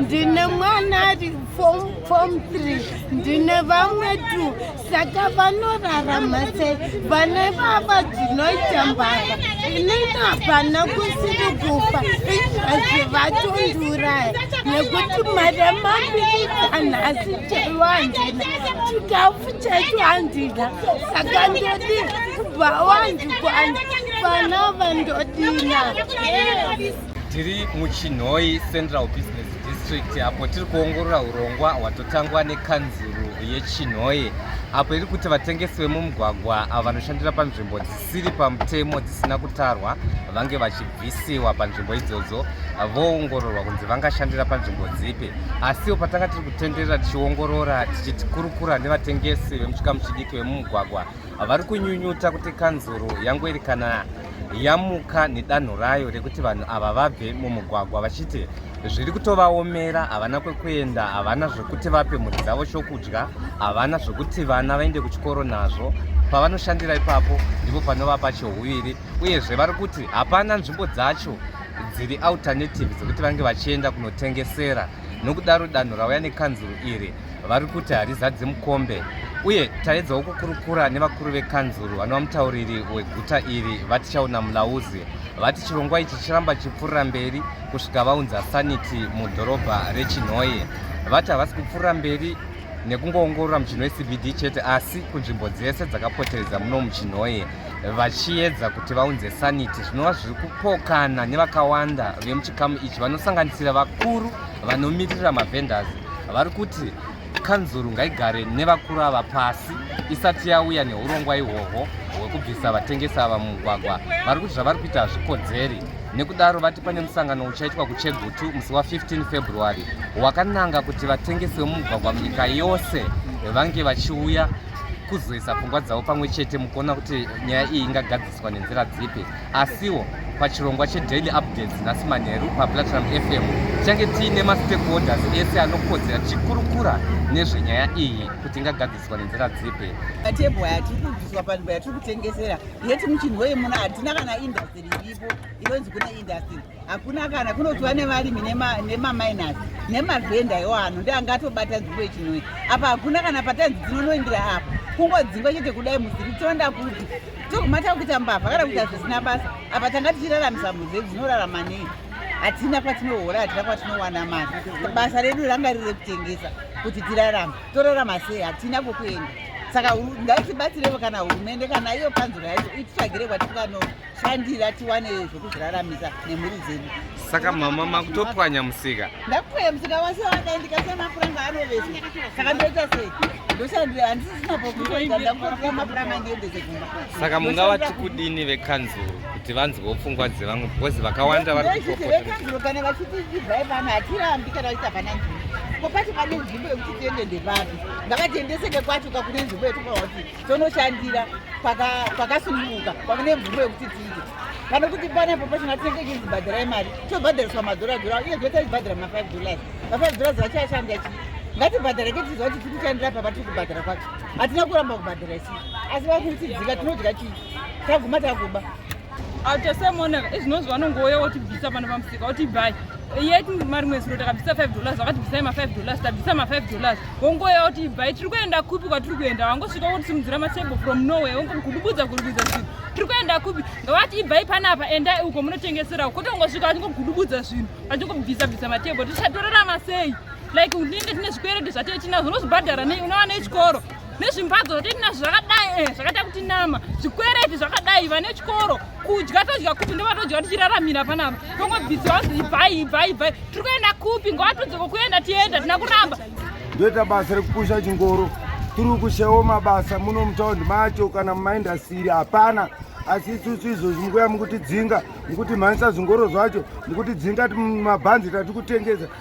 ndine mwana ari fom 3 ndine vamwe tu saka vanorarama sei vane vava dzinoita mbavha inini hapana kusiri kufa izvazvi vatondiuraya nekuti mari yamabirikanhasi chaiwo handina chikafu chaicho handina saka ndodi kubva wand tiri muchinhoi central business district apo tiri kuongorora urongwa hwatotangwa nekanzuru yechinhoi apo iri kuti vatengesi vemumugwagwa avo vanoshandira panzvimbo dzisiri pamutemo dzisina kutarwa vange vachibvisiwa panzvimbo idzodzo voongororwa kunzi vangashandira panzvimbo dzipi asiwo patanga tiri kutenderera tichiongorora tichikurukura nevatengesi vemuchikamu chidiki vemumugwagwa vari kunyunyuta kuti kanzuru yangweri kana yamuka nedanho rayo rekuti vanhu ava vabve mumugwagwa vachiti zviri kutovaomera havana kwekuenda havana zvekuti vape mhuri dzavo chokudya havana zvekuti vana vaende kuchikoro nazvo pavanoshandira ipapo ndipo panova pachihuviri uyezve vari kuti hapana nzvimbo dzacho dziri alternative dzekuti vange vachienda kunotengesera nokudaro danho rauya nekanzuru iri vari kuti harizadze mukombe uye taedzawo kukurukura nevakuru vekanzuru vanova mutauriri weguta iri vatichaona mulauzi vati chirongwa ichi chiramba chipfuurira mberi kusvika vaunza sanity mudhorobha rechinhoye vati havasi kupfuurira mberi nekungoongorora muchinho wecbd chete asi kunzvimbo dzese dzakapoteredza muno muchinhoye vachiedza kuti vaunze sanity zvinova zviri kupokana nevakawanda vemuchikamu ichi vanosanganisira vakuru vanomirira mavendors vari kuti kanzuru ngaigare nevakuru ava pasi isati yauya neurongwa ihwohwo hwekubvisa vatengesi ava mumugwagwa vari kuti zvavari kuita hazvikodzeri nekudaro vati pane musangano uchaitwa kuchegutu musi wa15 february wakananga kuti vatengesi vemumugwagwa munyika yose vange vachiuya kuzoisa pfungwa dzavo pamwe chete mukuona kuti nyaya iyi ingagadzira Swa nenzira dzipi asiwo pachirongwa chedaily updates nhasi manheru paplatinum fm tichange tiine mastakeholders ese anokodzera tichikurukura nezvenyaya iyi kuti ingagadziswa nenzira dzipi matebho aya tiri kubviswa panzvimbo yatiri kutengesera yeti muchinhu wei muno hatina kana indastiri iripo inonzi kune indastiri hakuna kana kunotiwa nevarimi nemamainasi nemavhenda iwo ano ndi angatobata dzimbo ichinoi apa hakuna kana patanzi dzinonoindira apa kungodzingwa chete kudai muziri tonda kuti togumata kuita mbavha kana kuita zvisina basa apa tanga tichiraramisa mhuzi dzinorarama nei hatina kwatinohora hatina kwatinowana mari basa redu ranga riri rekutengesa kuti tirarama torarama sei hatina kwokuenda saka ngaitibatsirevo kana hurumende kana iyo panzura yacho ititsvagire kwatikanoa shandira tiwane zvokuzviraramisa nemhuri dzedu saka mama makutopwanya musika ndakupwanya musika wase wadai ndikasiya mapuranga anovesa saka ndoita sei ndoshandira handisisina pokuoa ndakutotora mapuranga ndiendese kumba saka mungavati kudini vekanzuru kuti vanzwewo pfungwa dzevamwe because vakawanda varikuokanzuro kana vachiti ibvai pano hatirambi kana vachiti hapana nzvimbo ko pacho pane nzvimbo yekuti tiende ndepapi ngavatiendeseke kwacho kakune nzvimbo yekuti tonoshandira pakasununguka pavane mvumo yekuti tiite kana kuti panepo pachina tinenge ichizibhadhirai mari tobhadhariswa madhora dhora uye zvee taibhadhira ma5 dollars ma5 dollars vachashanda chi ngatibhadhara ke tiziva kuti tiri kushandira papa tiri kubhadhara kwacho hatina kuramba kubhadhara isi asi vakutidzika tinodya chii taguma takuba autasemonaka izvinonzi vanongouya wotibvisa pano pamusika wotibvai yet mari mwezi uno takabvisa five dollars vakatibvisai mafive dollars tabvisa mafive dollars wongouya wotibvai tiri kuenda kupi kwatiri kuenda wangosvika wotisimudzira matable from norway wongogudubudza gudubudza zvinhu tiri kuenda kupi ngavati ibvai panapa endai uko munotengeserawo kwete ungosvika vachingogudubudza zvinhu vachingobvisa bvisa matable tichatorarama sei like unenge tine zvikwereti zvatee tinazvo unozvibhadhara nei unowana echikoro nezvimbadzo zvatinazvo zvakadai eh, zvakaita kuti nama zvikwereti zvakadai vane chikoro kudya todya kupi ndovatodya tichiraramira panapa tongobvisi vanzi ibvai ibvai ibvai tiri kuenda kupi ngovatudze kokuenda tienda tina kuramba ndoita basa rekupusha chingoro tiri kushawo mabasa muno mutaundi macho kana mumaindasiri hapana asi isusu izvozvi mukuya mukutidzinga mukutimanisa zvingoro zvacho mukutidzinga mabhanzi tatiri kutengesa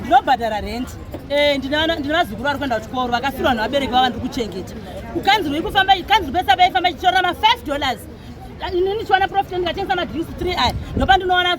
ndinobhadhara rent eh, ndinavazukuru vari kuenda kuchikoro vakafirwa vanhu vabereki vava ndiri kuchengeta ukanzirwei kufamba kanziri pesa vaifamba ichitorora ma5 dollars inini chiwana profit ndikatengesa madrinks 3 aya ndopa ndinowana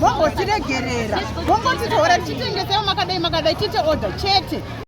vombotiregerera vombotitora tichitengesewo makadai makadai tiite order chete